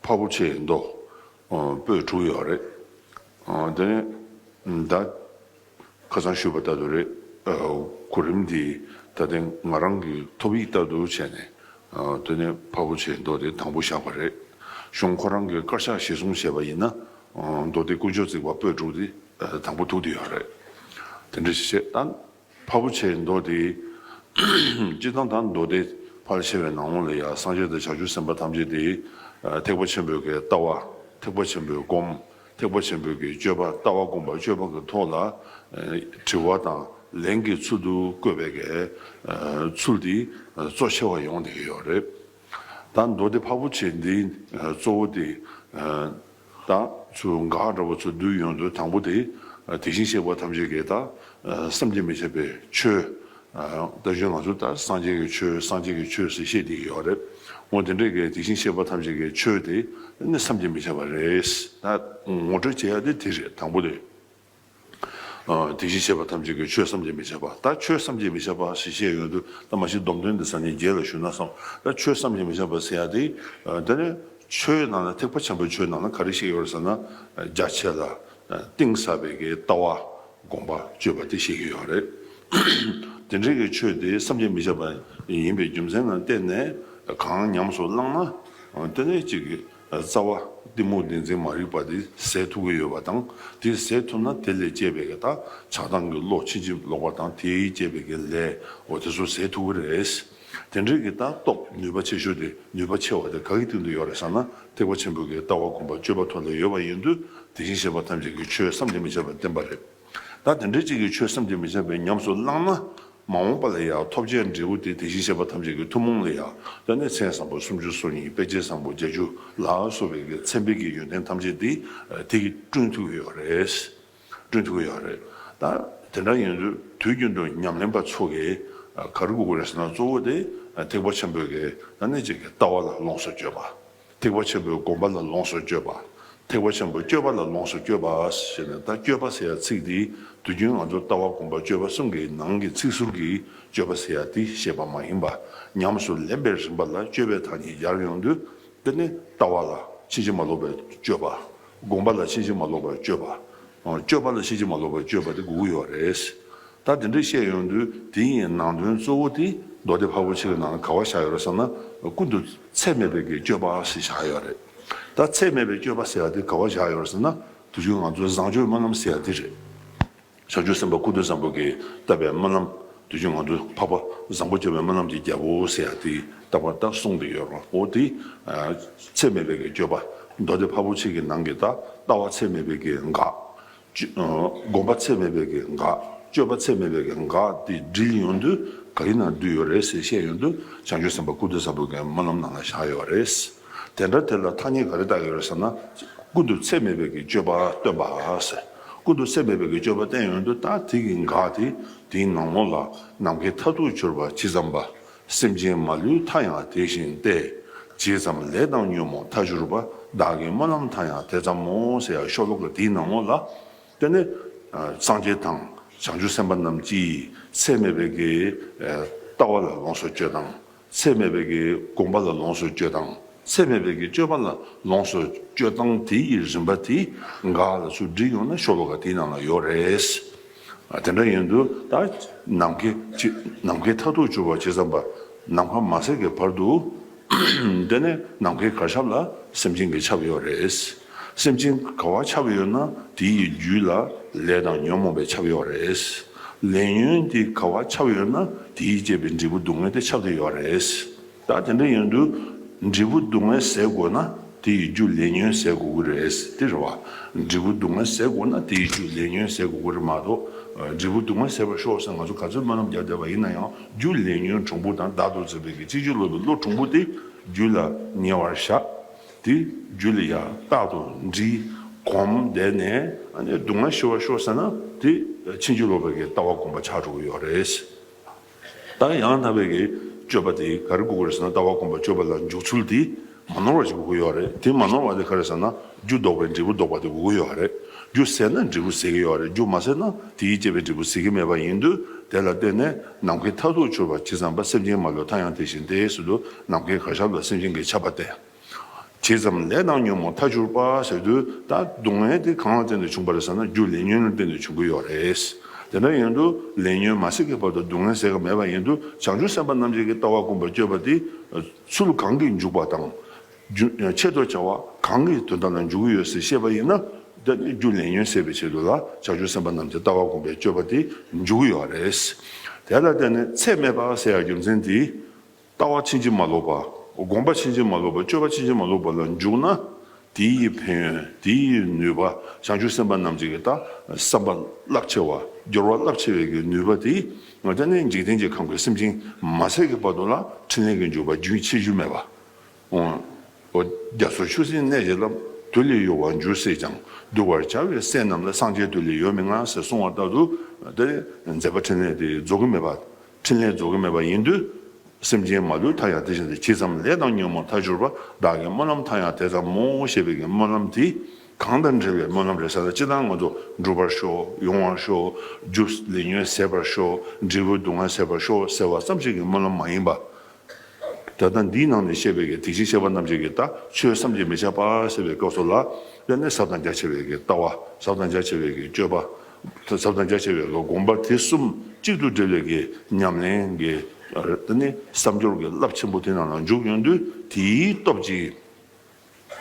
ཕ་བོ་ཆེ་མདོ་སྤོས་དྲུག་ཡོད་རེད། དེ་ནས་ད་ཁ་སང་ཞུས་པ་ལྟ་བུ་རེད། གོ་རིམ་འདི་ད་ལྟའི་ང་རང་གི་ཐོབ་ཡིག་ལྟ་བུ་བྱས་ནས་དེ་ནས་ཕ་བོ་ཆེ་མདོ་དེ་དང་པོ་བཞག་པ་རེད། གཞུང་ཁོ་རང་གི་དཀར་ཆག་གཞིར་བཟུང་བྱས་པ་ཡིན་ན་མདོ་སྡེ་དཀོན་མཆོག་བརྩིགས་པ་སྤོས་དྲུག་དེ་དང་པོ་ཐུག་དེ་ཡོད་རེད། དེ་འདྲ་ཞིག་བྱས་ད། ཕ་བུ་ཆེ་མདོ་སྡེ། སྤྱི་གཙང་དང་མདོ་སྡེ་ཕར་ཕྱེ་བའི་ནང་ལོགས་ལ་ཡང་སངས་རྒྱས་དང་བྱང་ཆུབ་སེམས་དཔའ་ཐམས་ཅད་དེ། ཐེག་པ་ཆེན་པོའི་གེགས་ལྟ་བ་ཐེག་པ་ཆེན་པོའི་སྒོམ། ཐེག་པ་ཆེན་པོའི་གེགས་སྤྱོད་པ་ལྟ་བ་སྒོམ་པ་སྤྱོད་པ་གི་ཐོག་ལ། དྲི་བ་དང་ལན་གྱི་ཚུལ་དུ་བཀོད་པའི་གེགས། ཚུལ་འདི་གཙོ་ཆེ་བ་ཡོང་སྡད་ཀྱི་ཡོད་རེད། ད་མདོ་སྡེ་ཕ་བོ་ཆེ་འདི་གཙོ་བོ་དེ། ད་ཚུར་འགག་འདྲ་བ་ཚུར་བསྡུས་ཡོང་དོན་དང་པོ་དེ། དེ་བཞིན་གཤེགས་པ་ཐམས་ཅད་ཀྱི་ད་བསམ་གྱིས་མི་ཁྱབ་པའི་ཆོས། ད་གཞོན་ང་ཚོ་ད་སངས་རྒྱས་ཀྱི་ཆོས་སངས་རྒྱས་ཀྱི་ཆོས་ཟེར་ཤེས་དེ་ཡོད་རེད། འོ་དེ་འདྲའི་གི་དེ་བཞིན་གཤེགས་པ་ཐམས་ཅད་ཀྱི་ཆོས་དེ་ནི་བསམ་གྱིས་མི་ཁྱབ་པ་རེད། ད་ངོ་སྤྲོད་བྱེད་ཡ་དེ་དེ་རེད་དང་པོ་དེ། དེ་བཞིན་གཤེགས་པ་ཐམས་ཅད་ཀྱིས་ཆོས་བསམ་གྱིས་མི་ཁྱབ་པ་ལྟར་ཁྱོད་བསམ་གྱིས་མི་ཁྱབ་པ་ཞེས་བཤད་ཡོད་དུ་ད་མ་ཤི་སྡོམ་དོན་འདི་ས་ཉིད་རྒྱས་ལ་ཞུས་ན་བསམ་ལྟར་ཆོས་བསམ་གྱིས་མི་ཁྱབ་པ་ཟེར་ཡ་དེ། དེ་ནི་ཆོས་ནང་ན་ཐེག་པ་ཆེན་པོའི་ཆོས་ནང་ན་ག་རེ་བཤད་ཀྱི་ཡོད་རེད་ཟེར་ན། རྒྱ་ཆེ་ལ་གཏིང་ཟབ་པའི་ཀྱི་ལྟ་བ་དགོངས་པ་སྤྱོད་པ་དེ་བཤད་ཀྱི་ཡོད་རེད། དེ་འདྲའི་ཀྱི་ཆོས་དེ་བསམ་གྱིས་མི་ཁྱབ་པ་ཡིན་པའི་རྒྱུ་མཚན་ནང་བལྟས་ནས་གང་ཉམས་སུ་བླངས་ན། དེ་ནི་གཅིག་རྩ་བ། གཏི་མུག་བདེན་འཛིན་མ་རིག་པ་དེ་ཟད་ཐུབ་ཀྱི་ཡོད་པ་དང་དེ་ཟད་ཐུབ་ན་དེ་ལས་སྐྱེས་པའི་བདག་ཆགས་སྡང་གི་བློ་ཕྱིན་ཅི་ལོག་པ་དང་དེས་སྐྱེས་པའི་དགེ་ལས་འོ་དེ་ཚོ་ཟད་ཐུབ་ཀྱི་རེད། དེ་འདྲའི་གི་ལྟ་རྟོག་ནུས་པ་ཆེ་ཤོས་དེ་ནུས་པ་ཆེ་བ་དེ་ག་གི་སྟེང་དུ་ཡོད་རེད་བསམ་ན་ཐེག་པ་ཆེན་པོའི་གི་ལྟ་བ་སྒོམ་པ་སྤྱོད་པ་ཐོག་ལ་ཡོད་པ་ཡིན་དུས་དེ་བཞིན་གཤེགས་པ་ཐམས་ཅད་ཀྱི་ཆོས་སམ་དེ་མི་བྱེད་པར་བསྟན་པ་རེད། ད་དེ་འདྲའི་ཅིག་གིས་ཆོས་བསམ་གྱིས་མི་ཁྱབ་པའི་ཉམས་སུ་བླངས་ན། མ་འོངས་པ་ལ་ཡང་ཐོབ་བྱའི་འབྲས་བུ་དེ་དེ་བཞིན་གཤེགས་པ་ཐམས་ཅད་ཀྱི་ཐུན་མོང་ལ་ཡང་ལྟོས་ནས་མཚན་བཟང་པོ་སུམ་ཅུ་སོ་གཉིས་དཔེ་བྱད་བཟང་པོ་བརྒྱད་ཅུ་ལ་སོགས་པའི་མཚན་དཔེ་གྱི་ཡོན་ཏན་ཐམས་ཅད་དེ་དེ་གིས་བསྐྲུན་ཐུབ་ཡོད་རེད། བསྐྲུན་ཐུབ་ཡོད་རེད། ད་དེ་འདྲ་ཡིན་དུས་དུས་རྒྱུན་དུ་ཉམས་ལེན་པ་ཚོ་གིས་ག་རེ་བསྒུག་དགོས་རེད་ཟེར་ན་གཙོ་བོ་དེ་ཐེག་པ་ཆེན་པོའི་གདངས་ཅན་གྱི་ལྟ་བ་ལ་ལོངས་སུ་སྤྱོད་པ། ཐེག་པ་ཆེན་པོའི་དགོངས་པ་ལ་ལོངས་སུ་སྤྱོད་པ། ཐེག་པ་ཆེན་པོའི་སྤྱོད་པ་ལ་ལོངས་སུ་སྤྱོད་པ་ཞེས་ནས་ད་སྤྱོད་པ་ཟེར་ཡ་ཚིག་འདིས་དུས་རྒྱུན་ང་ཚོར་ལྟ་བ་སྒོམ་པ་སྤྱོད་པ་གསུམ་གྱི་ནང་གི་ཚིག་ཟུར་གྱི་སྤྱོད་པ་ཟེར་ཡ་དེ་བཤད་པ་མ་ཡིན་པ་ཉམས་སུ་ལེན་པའི་རིམ་པ་ལ་སྤྱོད་པའི་དག་ཉིད་སྦྱར་ཡོང་དུས་འདི་ནི་ལྟ་བ་ལ་ཕྱིན་ཅི་མ་ལོག་པའི་སྤྱོད་པ། སྒོམ་པ་ལ་ཕྱིན་ཅི་མ་ལོག་པའི་སྤྱོད་པ། སྤྱོད་པ་ལ་ཤེས་ཀྱི་མ་ལོག་པའི་སྤྱོད་པ་དེ་དགུ་དགུ་ཡོད་རེད། ད་དེ་འདྲ་བཤད་ཡོང་དུས་དེ་ཡི་ནང་དོན་གཙོ་བོ་དེ་མདོ་སྡེ་ཕ་བོ་ཆེ་གི་ནང་ལ་ག་བ་བཞག་ཡོད་རེད་བསམ་ན་ཀུན་ཏུ་ཚད་མེད་པའི་གི་སྤྱོད་པ་ཞིག་བཞག་ཡོད་རེད། ད་ཚད་མེད་པའི་སྤྱོད་པ་ཟེར་བ་དེ་ག་བ་བཞག་ཡོད་རེད་བསམ་ན་དེ་བཞིན་ང་ཚོའི་བཟང་སྤྱོད་སྨོན་ལམ་ཟེར་བ་དེ་རེད། བྱང་ཆུབ་སེམས་དཔའ་ཀུན་ཏུ་བཟང་པོ་གིས་བཏབ་པའི་སྨོན་ལམ། དུས་ཀྱི་ངང་དུ་འཕགས་པ་བཟང་པོ་སྐྱེ་བའི་སྨོན་ལམ་གྱི་རྒྱལ་པོ་ཞེས་ཡང་དེ་ལྟ་བར་ལྟར་གསུངས་ཏེ་ཡོད་པའོ། དེ་ཚད་མེད་པའི་སྐྱོ་བ་མདོ་སྡེ་འཕགས་པོ་ཆེ་གེ་ནང་གི་ད་ལྟ་བ་ཚད་མེད་པའི་གེ་འགག། སྒོམ་པ་ཚད་མེད་པའི་གེ་འགག་སྤྱོད་པ་ཚད་མེད་པའི་གེ་འགག་དེ་འདྲིལ་ཡོང་དུས་ག་རི་ན་འདུས་ཡོད་རེད་ཟེར་བཤད་ཡོང་དུས་བྱང་ཆུབ་སེམས་དཔའ་སྐུ་སྟོད་གསར་བུ་གེ་སྨོན་ལམ་ནང་ལ་བཞག་ཡོད་པ་རེད། དེ་འདྲ་དེ་ལ་ཐ་སྙད་ག་རེ་བཏགས་ཡོད་རེད་ཟེར་ན། ཀུན་ཏུ་ཚད་མེད་པའི་གི་སྤྱོད་པ་སྟོན་པ། ཀུན་ཏུ་ཚད་མེད་པའི་གི་སྤྱོད་པ་བསྟན་ཡོད་འདུག་ད་དེ་གི་འགག་དེ་དེའི་ནང་ངོ་ལ་ནམ་མཁའི་མཐའ་ཐུག་གྱུར་པ་ཇི་ཙམ་པ། སེམས་ཅན་མ་ལུས་མཐའ་ཡང་དེ་བཞིན་ཏེ། ཇི་ཙམ་ལས་བཏང་ཉོན་མོངས་མཐའ་གྱུར་པ་བདག་གི་སྨོན་ལམ་མཐའ་ཡང་དེ་ཙམ་མོ་ཟེར་ཡག་ཤོ་ལོ་ཀ་དེའི་ནང་ངོ་ལ། དེ་ནི་སངས་རྒྱས་དང་བྱང་ཆུབ་སེམས་དཔའ་རྣམས་ཀྱིས་ཚད་མེད་པའི་གི་ལྟ་བ་ལ་ལོངས་སུ་སྤྱོད་དང། ཚད་མེད་པའི་གྱི་བསྒོམ་པ་ལ་ལོངས་སུ་སྤྱོད་དང་ཚད་མེད་པའི་གྱི་སྤྱོད་པ་ལ་ལོངས་སུ་སྤྱོད་དང་དེ་ཡི་རིམ་པ་དེ་འགའ་ལ་ཆུ་འདྲིལ་ཡོང་ན་ཤོ་བ་འགའ་དེའི་ནང་ལ་ཡོད་རེད། དེ་འདྲ་ཡིན་དུས་ད་ནམ་མཁའི་ནམ་མཁའི་མཐའ་ཐུག་གྱུར་བ་ཇི་ཙམ་པ་ནམ་མཁའ་མ་ཟད་ཀྱི་བར་དུ་འདི་ནས་ནམ་མཁའི་གར་ཆབ་ལ་སེམས་ཅན་གྱི་ཆབ་ཡོད་རེད། སེམས་ཅན་ག་བར་ཆགས་ཡོད་ན་དེ་ཡི་རྒྱུད་ལ་ལས་དང་ཉོན་མོངས་པའི་ཆགས་ཡོད་རེད། ལས་ཉོན་དེ་ག་བར་ཆགས་ཡོད་ན་དེ་ཡིས་བསྐྱེད་པའི་འབྲས་བུ་སྡུག་བསྔལ་དེ་ཆགས་ཀྱི་ཡོད་རེད། ད་དེ་འདྲ་ཡོན་དུ་འབྲས་བུ་སྡུག་བསྔལ་ཟད་དགོས་ན་དེ་ཡི་རྒྱུ་ལས་ཉོན་ཟད་དགོས་ཀྱི་རེད། དེ་རེད་བ། འབྲས་བུ་སྡུག་བསྔལ་ཟད་དགོས་ན་དེ་ཡི་རྒྱུ་ལས་ཉོན་ཟད་དགོས་ཀྱི་རེད་མ་གཏོགས། འབྲས་བུ་སྡུག་བསྔལ་ཟད་པར་ཤོག་ཟེར་ང་ཚོ་ག་ཚོད་སྨོན་ལམ་རྒྱག་བསྡད་པ་ཡིན་ན་ཡང་རྒྱུ་ལས་ཉོན་གྲུང་པོ་དང་བདག་ཏུ་འཛིན་པའི་གཅིག་ཆོད་ལོ་པའི་བློ་གྲུང་པོ་དེ་རྒྱུད་ལ་ཉེ་བར་བཞག་དེ་རྒྱུད་ལ་ཡང་རྟག་ཏུ་འདྲི། གོམས་བསྡད་ནས་སྡུག་བསྔལ་ཞི་བར་ཤོག་ཟེར་ན་དེ་ཕྱིན་ཅི་ལོག་པའི་ལྟ་བ་སྒོམ་པ་ཆགས་འགྲོ་གི་ཡོད་རེད། ད་ཡང་དག་པའི་སྤྱོད་པ་དེ་ག་རེ་དགོས་གི་རེད་ཟེར་ན་ལྟ་བ་སྒོམ་པ་སྤྱོད་པ་ལ་འཇུག་ཚུལ་དེ་མ་ནོར་བ་ཞིག་དགོས་གི་ཡོད་རེད། དེ་མ་ནོར་བ་དེ་ག་རེ་ཟེར་ན་རྒྱུ་ལྡོག་པའི་འབྲས་བུ་ལྡོག་པ་དེ་དགོས་གི་ཡོད་རེད། རྒྱུ་ཟད་ན་འབྲས་བུ་ཟད་གི་ཡོད་རེད་རྒྱུ་མ་ཟད་ན་དེའི་བསྐྱེད་པའི་འབྲས་བུ་ཟད་གི་མེད་པ་ཡིན་དུས་དེ་ལ་བརྟེན་ནས། ནམ་མཁའི་མཐར་ཐུག་འཆོལ་བར་བྱེད་ཙམ་པ་སེམས་ཅན་མ་ལུས་མཐའ་ཡང་དེ་བཞིན་ཏེ་ཟེར་དུ་ནམ་མཁའི་གར་ཞབས་ལ་སེམས་ཅན་གྱི་ཆགས་པ་སྟེ། བྱེད་ཙམ་ལས་དང་ཉོན་མོངས་མཐའ་འཆོལ་པ་ཟེར་དུས་ད་སྡུག་བསྔལ་དེ་གང་ལ་བརྟེན་ནས་བྱུང་བ་རེད་ཟེར་ན་རྒྱུ་ལས་ཉོན་ལ་བརྟེན་ནས་བྱུང་གི་ཡོད་རེད། དེ་འདྲ་ཡིན་དུས་ལས་ཉོན་མ་སྲིད་ཀྱི་བར་དུ་སྡུག་བསྔལ་ཟེར་ག་མེད་པ་ཡིན་དུས་བྱང་ཆུབ་སེམས་དཔའ་རྣམ་འབྱེད་ཀྱི་ལྟ་བ་དཀོན་པར་སྤྱོད་པ་དེ་ཚུལ་གང་གིས་འཇུག་པ་དང། ཆེད་དུ་བྱ་བ་གང་གི་དོན་དམ་ལ་འཇུག་གི་ཡོད་ཟེར་ཤེས་པ་ཡིན་ན། རྒྱུ་ལས་ཉོན་སེལ་བའི་ཆེད་དུ་ལ་བྱ་ཆུ་སེམས་དཔའ་རྣམས་ཀྱི་ལྟ་བ་བསྒོམ་པའི་སྤྱོད་པ་དེ་འཇུག་གི་ཡོད་པ་རེད། དེ་ལ་བརྟེན་ནས་ཚད་མེད་པ་ཟེར་ཡང་རྒྱུ་མཚན་དེས། ལྟ་བ་ཕྱིན་ཅི་མ་ལོག་པ། བསྒོམ་པ་ཕྱིན་ཅི་མ་ལོག་པ་སྤྱོད་པ་ཕྱིན་ཅི་མ་ལོག་པ་ལ་འཇུག་ན། དེ་ཡི་ཕན་ཡོན་དེ་ཡི་ནུས་པ་བྱང་ཆུབ་སེམས་དཔའ་རྣམས་ཀྱི་ལྟ་བསམ་པ་རླབས་ཆེ་བ་སྦྱོར་བ་རླབས་ཆེ་བའི་ནུས་པ་དེས་ནི་འཇིག་རྟེན་གྱི་ཁམས་ཀྱི་སེམས་ཅན་མ་ཚད་ཀྱི་བར་དུ་ལ་ཕྲིན་ལས་ཀྱི་འཇུག་པ་རྒྱུན་ཆད་རྒྱུ་མེད་པ། འོ། རྒྱ་མཚོ་ཆུ་སྲིན་གནས་ཀྱི་རླབས། དུས་ལས་གཡོ་བར་འགྱུར་སྲིད་ཀྱང། གདུལ་བར་བྱ་བའི་སྲས་རྣམས་ལ་སངས་རྒྱས་དུས་ལས་ཡོལ་མི་མངའ་ཟེར་གསུང་བ་ལྟར་དུ། དེ་མཛད་པ་ཕྲིན་ལས་དེ་རྫོགས་ཀྱི་མེད་པ། ཕྲིན་ལས་རྫོགས་ཀྱི་མེད་པ་ཡིན་དུས། སེམས་ཅན་མ་ལུས་མཐའ་ཡང་དེ་བཞིན་དུ་གྱིས་ཙམ་ལས་དང་ཉོན་མོངས་མཐའ་གྱུར་པ་བདག་གི་སྨོན་ལམ་མཐའ་ཡང་དེ་ཙམ་མོ་ཞེས་པའི་གི་སྨོན་ལམ་དེ། གང་དང་འབྲེལ་བའི་སྨོན་ལམ་རེ་ས་ན་ཅི་དང་ང་ཚོ་འགྲུབ་པར་ཤོག་ཡོང་བར་ཤོག་རྒྱུ་ལས་ཉོན་ཟད་པར་ཤོག་འབྲས་བུ་སྡུག་བསྔལ་ཟད་པར་ཤོག་ཟེར་བ་ཙམ་ཞིག་གི་སྨོན་ལམ་མ་ཡིན་པ། ད་ལྟ་འདིའི་ནང་ནས་བཤད་པའི་གེགས་དེ་བཞིན་གཤེགས་པ་རྣམས་ཀྱི་གེགས་དག་ཆོས་བསམ་གྱིས་མི་ཁྱབ་པ་ཟེར་བའི་སྐབས་སོགས་ལ་དབྱར་གནས་ཟབ་དང་རྒྱ་ཆེ་བའི་གེགས་ལྟ་བ་ཟབ་དང་རྒྱ་ཆེ་བའི་གེགས་སྤྱོད་པ་ཟབ་དང་རྒྱ་ཆེ་བའི་གེགས་བསྒོམ་པ་དེ་གསུམ་གཅིག་ཏུ་སྒྲིལ་བའི་གེགས་ཉམས་ལེན་གྱི་ད་ནི་བསམ་སྦྱོར་གྱི་རླབས་ཆེན་པོ་དེ་རྣམས་ལ་འཇུག་ཡོང་དུས་དེའི་སྟོབས་ཀྱིས།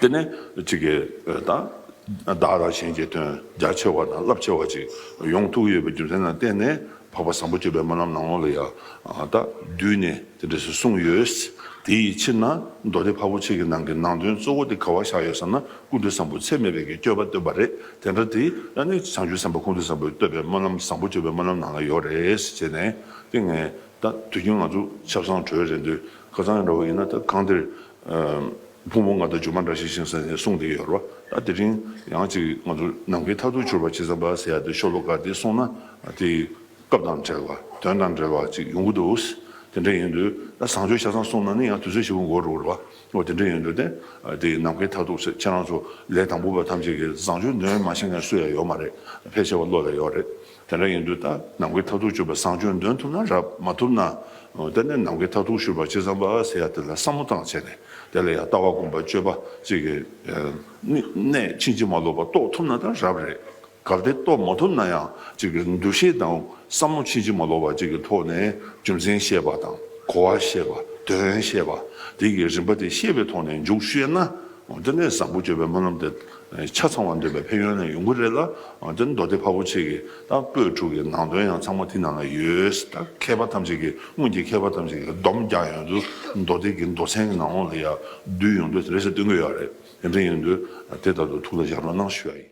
དེ་ནས་ཅི་དགེ་དང། བདག་ལ་ཞེན་བཅས་དོན་རྒྱ་ཆེ་བ་དང་རླབས་ཆེ་བ་ཅིག་ཡོངས་ཐུགས་ཡོད་པའི་རྒྱུ་མཚན་ལ་བརྟེན་ནས་འཕགས་པ་བཟང་པོ་སྤྱོད་པའི་སྨོན་ལམ་ནང་ལོགས་ལ་ཡང་དག་བསྡུས་ནས་དེ་འབྲས་སུ་གསུངས་ཡོད། དེ་ཡི་ཕྱིར་ན་མདོ་སྡེ་འཕགས་པོ་ཆེ་གི་ནང་གི་ནང་དོན་གཙོ་བོ་དེ་ག་བ་བཞག་ཡོད་བསམ་ན་ཀུན་འདུས་བཟང་པོ་ཚད་མེད་པའི་གི་སྤྱོད་པ་བསྟོད་པ་རེད་དེ་འདྲ་དེ་ཡང་ནི་བྱང་ཆུབ་སེམས་དཔའ་ཀུན་འདུས་བཟང་པོས་བསྟོད་པའི་སྨོན་ལམ་བཟང་པོ་སྤྱོད་པའི་སྨོན་ལམ་ནང་ལ་ཡོད་རེད་ཅེས་ནས་དེ་ངས་ད་དུས་རྒྱུན་ང་ཚོ་ཆབ་གསང་གྲོལ་རེད་འདོད་ཁ་ཚང་ཡང་འདྲ་བོ་ཡིན་ན་ད་གང་དེར་ཕུང་པོ་ལྔ་དང་སྒྱུ་མ་འདྲ་ཞིག་བཞེངས་ས་ནས་གསུངས་ཏེ་ཡོད་རོ། ད་དེ་རིང་ཡང་ཅིག་ང་ཚོ་ནམ་མཁའི་མཐའ་ཐུག་འཕྱུར་བ་ཇི་ཙམ་པ་ཟེར་ཡ་དེ་ཤོ་ལོ་ཀ་དེ་སོང་ན་དེ་སྐབས་དང་བྲལ་བ་དོན་དང་འབྲེལ་བ་ཅིག་ཡོང་གི་འདུག་དེ་འདྲ་ཡིན་དུས་ད་བཟང་སྤྱོད་ཆ་ཚང་སོང་ན་ནི་ཡང་དུས་ཚོད་ཞིག་འགོར་འགྲོ་གི་རེད་བ། དེ་འདྲ་ཡིན་དུས་དེ་དེ་ནམ་མཁའི་མཐའ་ཐུག་ཟེར་ཁྱེད་རང་ཚོ་ལས་དང་པོ་པ་ཐམས་ཅད་ཀྱིས་བཟང་སྤྱོད་ནུས་མ་ཤེས་མཁན་སུ་ཡང་ཡོད་མ་རེད་ཕལ་ཆེ་བ་བློ་ལ་ཡོད་རེད། དེ་འདྲ་ཡིན་དུས་ད་ནམ་མཁའི་མཐར་ཐུག་སྤྱོད་པ་བཟང་སྤྱོད་འདོན་ཐུབ་ན་རབ་མ་ཐུབ་ན་དེ་ནས་ནམ་མཁའི་མཐར་ཐུག་ཤོད་པ་ཅི་ཙམ་པ་ཟེར་ཡ་དེ་ལ་བསམ་བློ་བཏང་བྱས་ནས་དེ་ལ་ཡང་ལྟ་བ་སྒོམ་པ་སྤྱོད་པ་ཅིག་གི་གནད་ཕྱིན་ཅི་མ་ལོག་པ་རྟོགས་ཐུབ་ན་ད་རབ་རེད་གལ་ཏེ་རྟོགས་མ་ཐུབ་ན་ཡང་ཅིག་གི་འདུ་ཤེས་དང་བསམ་བློ་ཕྱིན་ཅི་མ་ལོག་པ་ཅིག་གི་ཐོག་ནས་རྒྱུ་མཚན་ཤེས་པ་དང་གོ་བ་ཤེས་པ་དོན་ཤེས་པ་དེ་གི་རིམ་པ་དེ་ཤེས་པའི་ཐོག་ནས་འཇུག་ཤེས་ན་དེ་ནས་བཟང་པོ་སྤྱོད་པའི་སྨོན་ལམ་དེ་ཆ་ཚང་བ་འདོད་པའི་ཕན་ཡོན་ནི་ཡོང་གི་རེད་ལ་དེ་མདོ་སྡེ་ཕ་བོ་ཆེ་གི་དང་པོད་དྲུག་གི་ནང་དོན་ཡང་ཚང་མ་དེ་ནང་ན་ཡོད། ད་མཁས་པ་ཐམས་ཅད་ཀྱིས་སྔོན་གྱི་མཁས་པ་ཐམས་ཅད་ཀྱིས་བསྡོམས་བརྒྱག་ཡོང་དུས་མདོ་སྡེ་གི་མདོ་ཚན་གྱི་ནང་ལོགས་ལ་ཡང་བསྡུས་ཡོང་དུས་དེ་རེ་ཟ་སྟོན་གྱི་ཡོད་རེད། དེ་འདྲ་ཡིན་དུས་དེ་ལྟར་དུ་ཐུགས་ལ་བཞག་རོགས་གནང་ཞུ་བ་ཡིན།